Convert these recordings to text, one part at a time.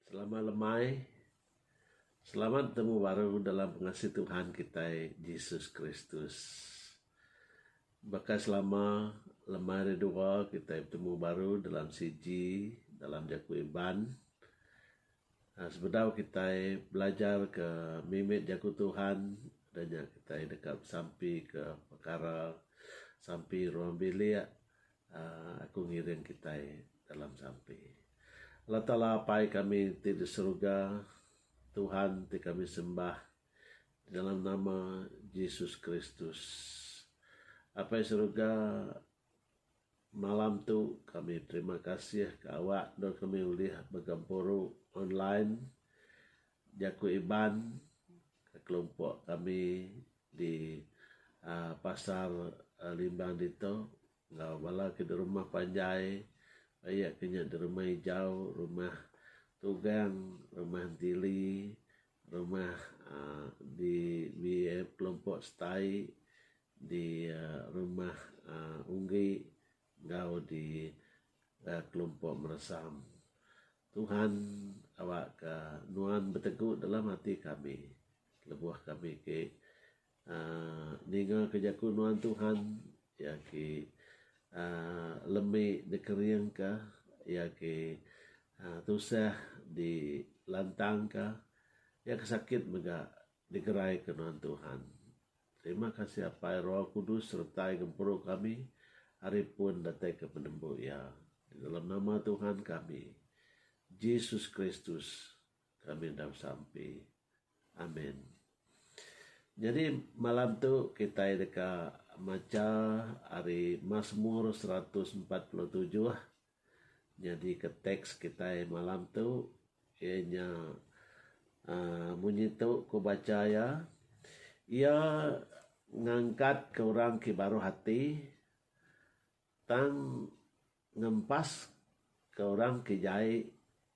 Selama lemai, selamat betemu baru dalam pengasih Tuhan kitai Jesus Kristus. Baka selama lemai hari dua kitai betemu baru dalam sigi dalam jaku Iban. Sebedau kitai belajar ke mimit Jaku Tuhan, udah nya kitai deka besampi ke pekara sampi ruang bilik uhh aku ngiring kitai dalam sampi. Allah Taala Apai kami ti di Suruga, Tuhan ti kami sembah dalam nama Jesus Kristus. Apai Suruga. Malam tu kami terima kasih ke awak endur kami ulih begempuru online jaku Iban ke kelompok kami di aaa pasar Limbang ditu enggau bala ke di rumah panjai aie ke nya di rumah ijau, rumah Tugang, rumah Entili, rumah aaa di di kelompok Setai. di rumah Unggi enggau di kelompok Meresam. Tuhan awakka nuan betegu dalam ati kami lebuh kami ti uhh ningaka jaku nuan Tuhan iya ti uhh lemi dikeringka iya ti uhh tusah dilantangka iya ke sakit mega digeraika nuan Tuhan. Terima kasih Apai Roh Kudus sertai gempuru kami ari pun datai ke penembu iya di dalam nama Tuhan kami Jesus Kristus kami enda besampi Amen Nyadi malam tu kitai deka macha ari Masmur seratus empat puluh tujuh Nyadika teks kitai malam tu iya nya uhh munyi tu ku bacha iya, iya ngangkatka orang ti baruh ati tang ngempaska orang ti jai.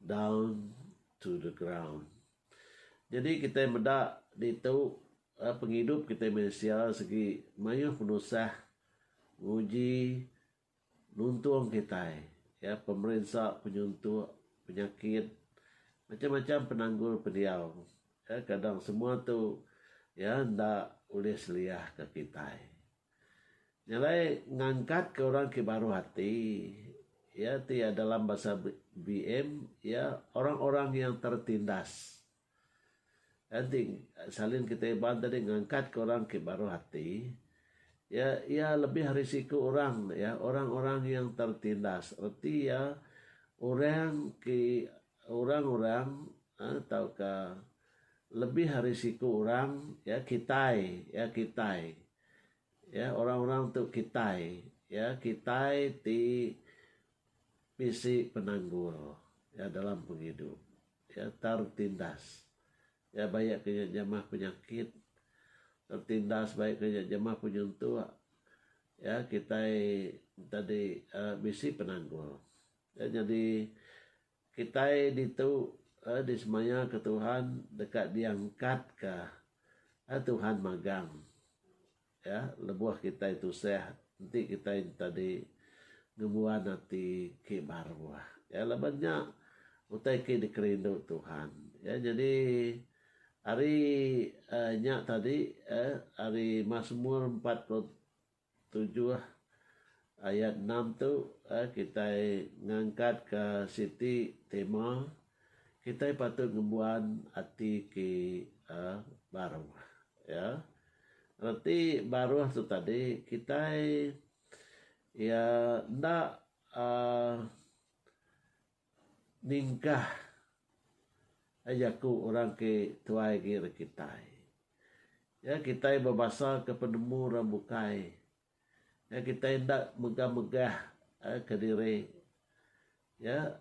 down to the ground. Jadi kitai meda ditu eh, pengidup kitai manusia segi mayuh penusah nguji nuntung kitai ya pemerinsa penyuntuk penyakit macam-macam penanggul pendiau ya kadang semua tu ya enda ulih seliah ka kitai. Nyelai ngangkatka orang ti baruh ati iya ti dalam basa BM iya orang-orang yang tertindas. Enti salin kita Iban tadi ngangkatka orang ti baruh ati iya iya lebih ari siku orang ne iya orang-orang yang tertindas reti iya orang ti Orang-orang tauka lebih ari siku orang ya kitai ya kitai ya orang-orang tu kitai ya kitai ti bisi penanggul ya dalam pengidup ya tertindas ya bayak ke nya jamah penyakit tertindas bayak ke nya jamah penyentuk ya kitai enti adi bisi penanggul. Iya nyadi kitai ditu disemayaka Tuhan deka diangkatka Tuhan magang iya lebuh kitai tusah enti kitai tadi ngembuan ati ke baru iya laban nya utai ke dikerindu Tuhan iya nyadi hari nya tadi hari masemur empat puluh Tujuh ayat enam tu kitai ngangkatka siti tema Kitai Patut Ngembuan Ati Ke Baruh. Ya. Reti baruh tu tadi kitai iya enda uhh Ningkah ai jaku orang ke tuai agi ari kitai. Iya kitai bebasa ke penemu orang bukai. Iya kitai enda megah-megah ke diri. Iya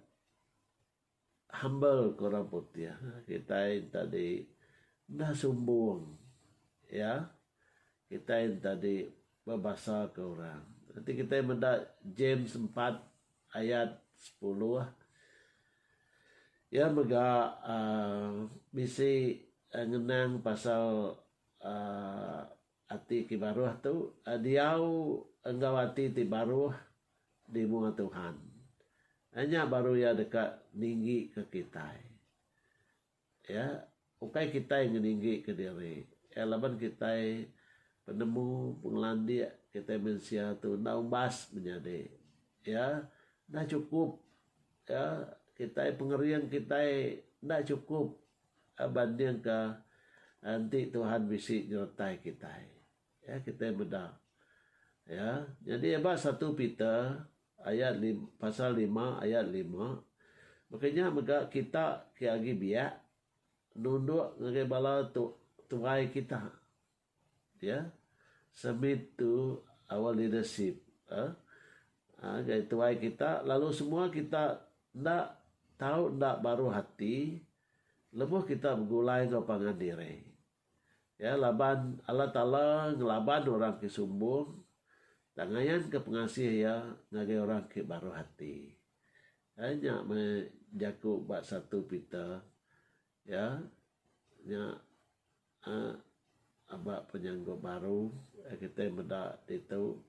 humble ke orang putih. Kitai enta di enda sumbung. Iya kitai enta di bebasa ke orang. Enti kitai meda James empat. ayat sepuluh iya mega uhh bisi ngenang pasal uhh ati ti baruh tu diau enggau ati ti baruh di mua Tuhan nya baru iya deka ninggi ka kitai. Iya, ukai kitai ngeninggika diri. Iya, laban kitai penemu, pengelandik kitai mensia tu enda umbas menyadi. Iya, enda chukup. Iya, kitai pengering kitai enda chukup bandingka enti Tuhan bisi nyertai kitai. Iya, kitai meda. Iya, nyadi eba satu Peter. Ayat lim, pasal lima ayat lima, Baka nya mega kita ke agi biak nunduk ngagai bala tu, tuai kita. Ya. Submit to our leadership. Eh. Ngagai tuai kita lalu semua kita enda tau enda baruh ati lebuh kita begulai enggau pangan diri. Iya laban Allah Taala ngelaban orang ke sumbung tang ngayanka pengasih Iya ngagai orang ke baruh ati. Ai nya meh jaku ba satu Peter iya nya uhh aba penyanggup baru iya kitai meda ditu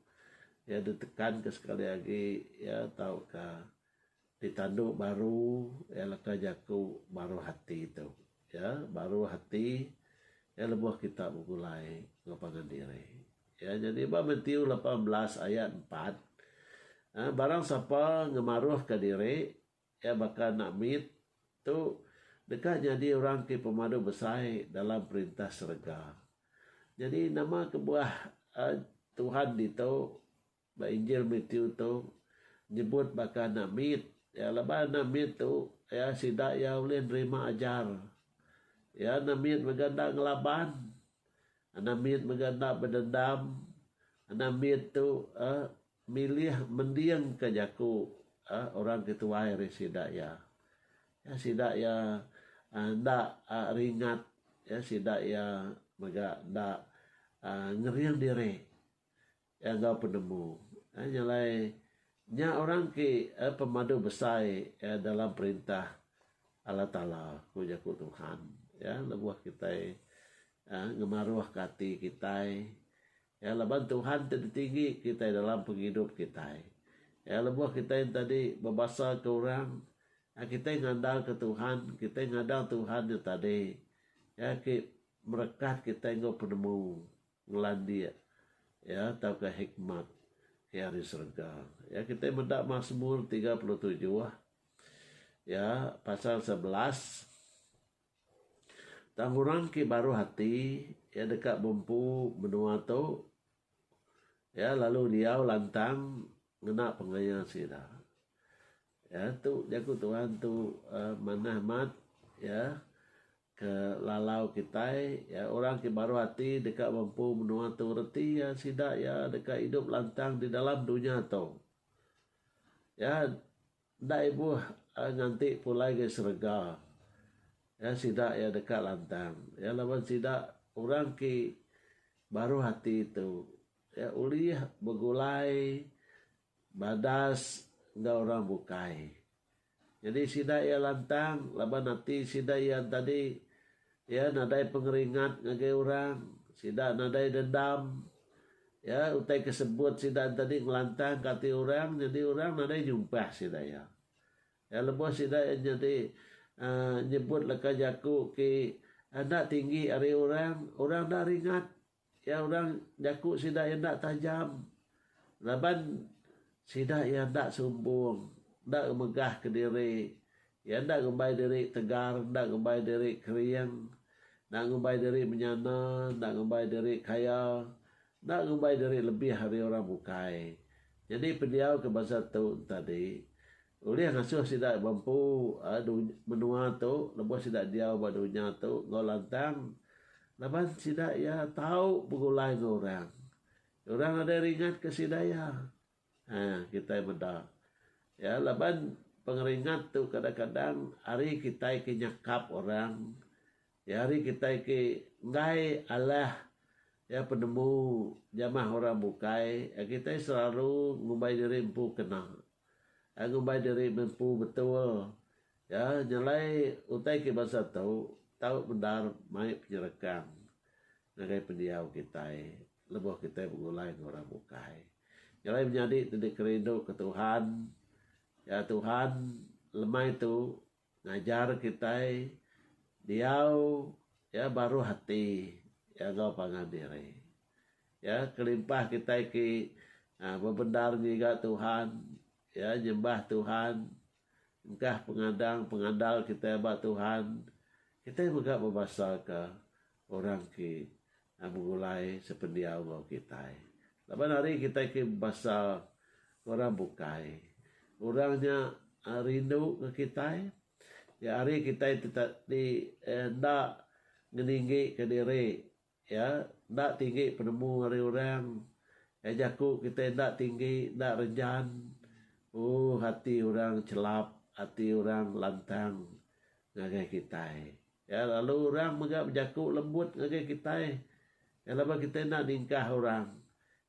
iya ditekanka sekali agi iya tauka. Ditandu baru iya leka jaku baruh ati tu iya baruh ati iya lebuh kita begulai enggau pangan diri iya nyadi ba Matthew lapan belas ayat empat barang sapa ngemaruhka diri iya baka anak mit tu deka nyadi orang ti pemadu besai dalam perintah serega. Nyadi nama kebuah Tuhan ditu? Ba Injil Matthew tu nyebut baka anak mit iya laban anak mit tu iya sida iya ulih nerima ajar. Iya anak mit mega enda ngelaban. Anak mit mega enda bedendam. Anak mit tu uhh milih mendingka jaku uhh orang ti tuai ari sida iya. Iya sida iya uhh enda uhh ringat. Iya sida iya mega enda uhh ngering diri. Gaga penemu. Nya alai, nya orang ti pemadu besai dalam Perintah Allah Taala, ku jaku Tuhan. Lebuh kitai ngemaruhka ati kitai laban Tuhan ti ditinggi kitai dalam pengidup kitai. Lebuh kitai enti adi bebasaka orang, kitai ngandalka Tuhan, kitai ngadang Tuhan nya tadi ke merekat kitai enggau penemu. ngelandik iya tauka hikmat ke ari serega. Ya kitai meda Masmur tiga puluh tujuh ya pasal sebelas tang orang ke baruh ati ya deka bempu menua tu ya lalu diau lantang ngena pengaya sida. Ya tu jaku Tuhan tu uh, manah mat ya Ke lalau kitai, iya orang ti baruh ati deka ngempu menua tu reti iya sida iya deka idup lantang di dalam dunya tu. Iya enda ibuh nganti pulai ke serega. Iya sida iya deka lantang. Iya laban sida orang ti baruh ati tu iya ulih begulai badas enggau orang bukai. Nyadi sida iya lantang laban ati sida iya entadi. Iya nadai pengeringat ngagai orang. Sida nadai dendam. Iya utai ke sebut sida entadi ngelantangka ati orang nyadi orang nadai nyumpah sida iya. Iya lebuh sida iya nyadi uhh nyebut leka jaku ke enda tinggi ari orang, orang enda ringat. Iya orang jaku sida iya enda tajam laban sida iya enda sumbung, enda ngemegahka diri. Iya enda ngumbai diri tegar, enda ngumbai diri kering, enda ngumbai diri menyana, enda ngumbai diri kaya, enda ngumbai diri lebih ari orang bukai. Nyadi pendiau ke bansa tu enti adi. Ulih ngasuh sida bempu menua tu lebuh sida diau ba dunya tu enggau lantang laban sida iya tau begulai enggau orang. Orang nadai ringatka sida iya. Haa kitai meda iya laban pengeringat tu kadang-kadang ari kitai ke nyakap orang. Iya hari kitai ke enggai alah iya penemu jamah orang bukai, iya kitai selalu ngumbai diri empu kena. Iya ngumbai diri empu betul. Iya nyelai utai ke bansa tu tau bendar mai penyerekang ngagai pendiau kitai lebuh kitai begulai enggau orang bukai. Nyelai menyadi ti dikerinduka Tuhan, iya Tuhan lemai tu. Ngajar kitai diau iya baruh ati iya enggau pangan diri. Iya kelimpah kitai ti bebendar ngiga Tuhan, iya nyembah Tuhan, engkah pengadang pengandal kitai ba Tuhan, kitai mega bebasaka. Orang ke begulai sependiau enggau kitai. Laban ari kitai ke bebasal ke orang bukai, orang nya rindu enggau kitai. Nya ari kitai ti ti enda ngeninggika diri iya, enda tinggi penemu ari orang, iya jaku kitai enda tinggi, enda renjan, ooh ati orang chelap, ati orang lantang ngagai kitai. Iya lalu orang mega bejaku lembut ngagai kitai. Iya laban kitai enda ningkah orang.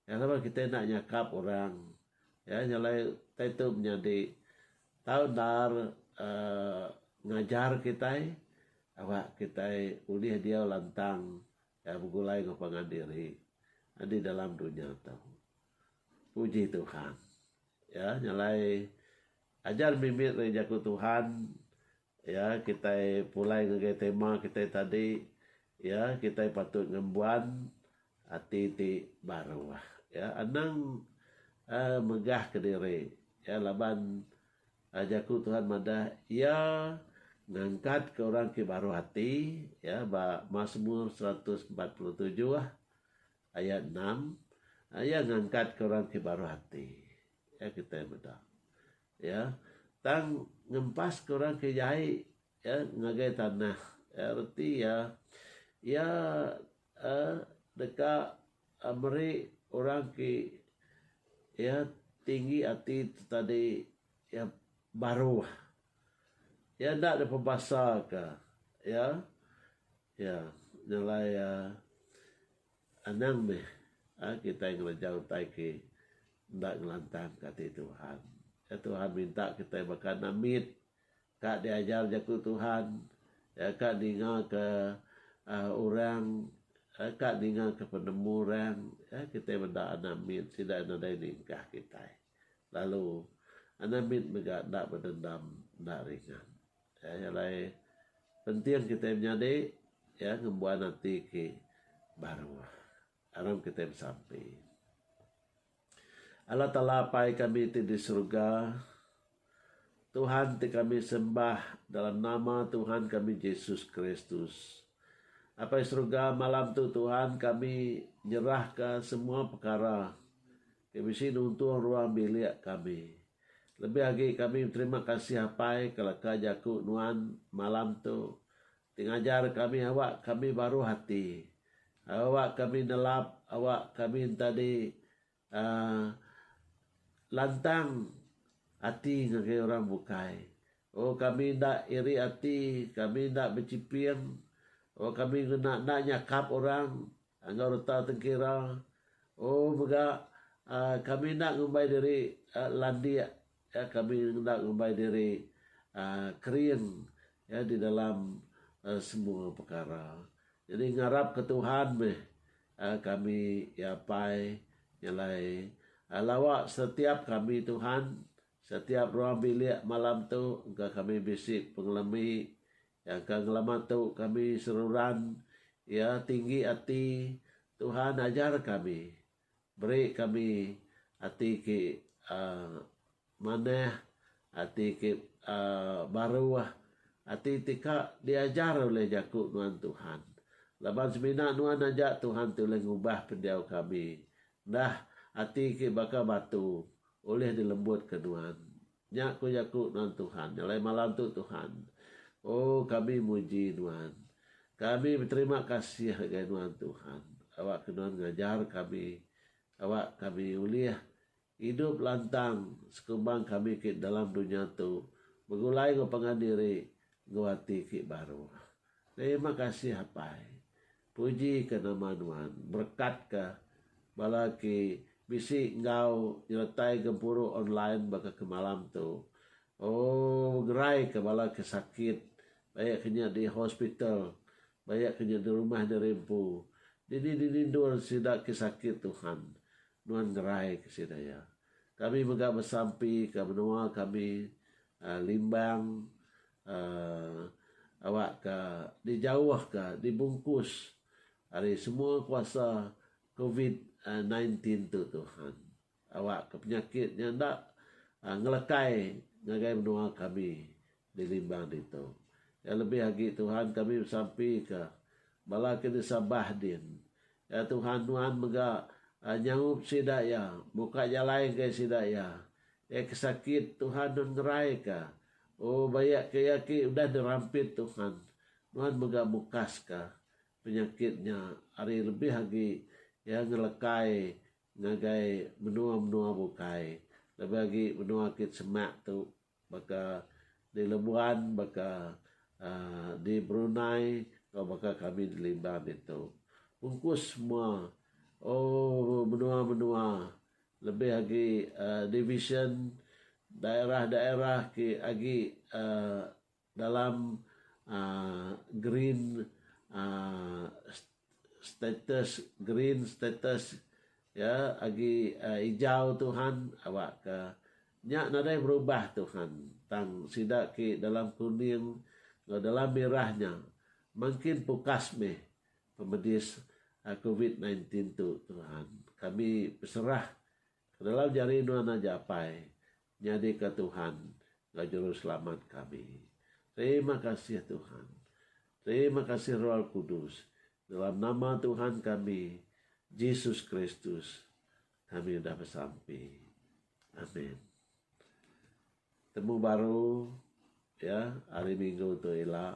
Iya laban kitai enda nyakap orang. Iya nyalai kitai tu menyadi tau endar uhh ngajar kitai aba kitai ulih diau lantang uhh begulai enggau pangan diri di dalam dunya tu. Puji Tuhan. Iya nyalai ajar mimit ari jaku Tuhan Iya, kitai pulai ngagai tema kitai tadi, iya, kitai patut ngembuan ati ti baru. Iya, anang uhh megah kediri. Iya, laban uhh jaku Tuhan madah, Iya ngangkatka orang ti baruh ati, iya, ba Masmur seratus empat puluh tujuh ayat enam, Iya ngangkatka orang ti baruh ati. Iya, kitai meda. Iya, tang ngempaska orang ke jai iya ngagai tanah. Iya reti iya, iya deka meri orang ke iya tinggi ati tu tadi iya baruh. Iya enda dipebasaka. Iya, iya nyelai iya. Anang meh a kitai ngereja utai ke enda ngelantang ke ati Tuhan. Ya Tuhan minta kitai baka Namit ka diajar jaku Tuhan, ya ka ninga ke uhh orang, ya ka ninga ke penemu orang, ya kitai meda anak mit sida nadai ningkah kitai. Lalu anak mit mega enda bedendam enda ringan. Iya alai penting kitai menyadi iya ngembuan ati ke baruh aram kitai besampi. Allah Taala Apai kami ti di Suruga, Tuhan ti kami sembah dalam nama Tuhan kami Jesus Kristus. Apai Suruga, malam tu Tuhan kami nyerahka semua pekara. Ti bisi nuntung ruang bilik kami. Lebih agi kami beterima kasih Apai ke leka jaku nuan malam tu ti ngajar kami awak kami baruh ati, awak kami nelap, awak kami entadi uhh lantang ati ngagai orang bukai. Oh kami enda iri ati, kami enda bechiping, oh kami ngena enda nyakap orang. Enggau reta tengkira, O mega kami enda ngumbai diri landik, kami enda ngumbai diri kering di dalam semua pekara. Nyadi ngarapka Tuhan meh kami iya apai nyelai lawa setiap kami Tuhan, setiap ruang bilik malam tu engka kami bisi pengelemi Jangka ngelama tu kami seruran iya tinggi ati Tuhan ajar kami beri kami ati ke manah ati ke baruh ati ti ka diajar oleh jaku nuan Tuhan laban semina nuan aja Tuhan ti ulih ngubah pendiau kami enda ati ke baka batu ulih dilembut ke nuan. Nya ku jaku nuan Tuhan, nya alai malam tu Tuhan. Oh, kami muji nuan. Kami beterima kasih ngagai nuan Tuhan, awakka nuan ngajar kami, awak kami ulih idup lantang sekumbang kami ke dalam dunya tu begulai enggau pangan diri enggau ati ke baruh. Terima kasih Apai. Puji ka nama Nuan. Berekat ka bala ke bisi enggau nyeretai gempuru online baka ke malam tu. Ooh ngerai ka bala ke sakit bayak ke nya di hospital bayak ke nya di rumah diri empu. Dini dini endur sida ke sakit Tuhan. Nuan ngerai ka sida ya. Kami mega besampi ka menua kami Limbang awakka dijauhka dibungkus ari semua kuasa covid nine tin tu Tuhan. Awakka penyakit nya enda ngelekai ngagai menua kami di Limbang ditu. Iya lebih agi Tuhan kami besampika bala ke di Sabah din. Ya Tuhan nuan mega nyaup sida iya muka jalai ngagai sida iya Iya ke sakit, Tuhan nun ngerai ka. O, baya ke iya ke udah dirampit Tuhan, Nuan mega mukas ka penyakit nya ari lebih agi iya ngelekai ngagai menua-menua bukai, lebih agi menua kit semak tu baka di Lebuan, baka di Brunei enggau baka kami di Limbang ditu. Ungkus semua, o, menua-menua Lebih agi divisyen daerah-daerah ke agi dalam green status, green status, iya agi ijau tu han awakka nya nadai berubah tu han tang sida ke dalam kuning enggau dalam mirah nya mangkin pukas mih pemedis covid nineteen tu Tuhan. Kami beserah kedalam jari Nuan aja Apai nyadika Tuhan enggau Juruselamat kami. Terima kasih Tuhan. Terima kasih Roh Kudus. Dalam nama Tuhan kami Jesus Kristus kami udah besampi. Amen. Temu baru ya hari minggu tu ila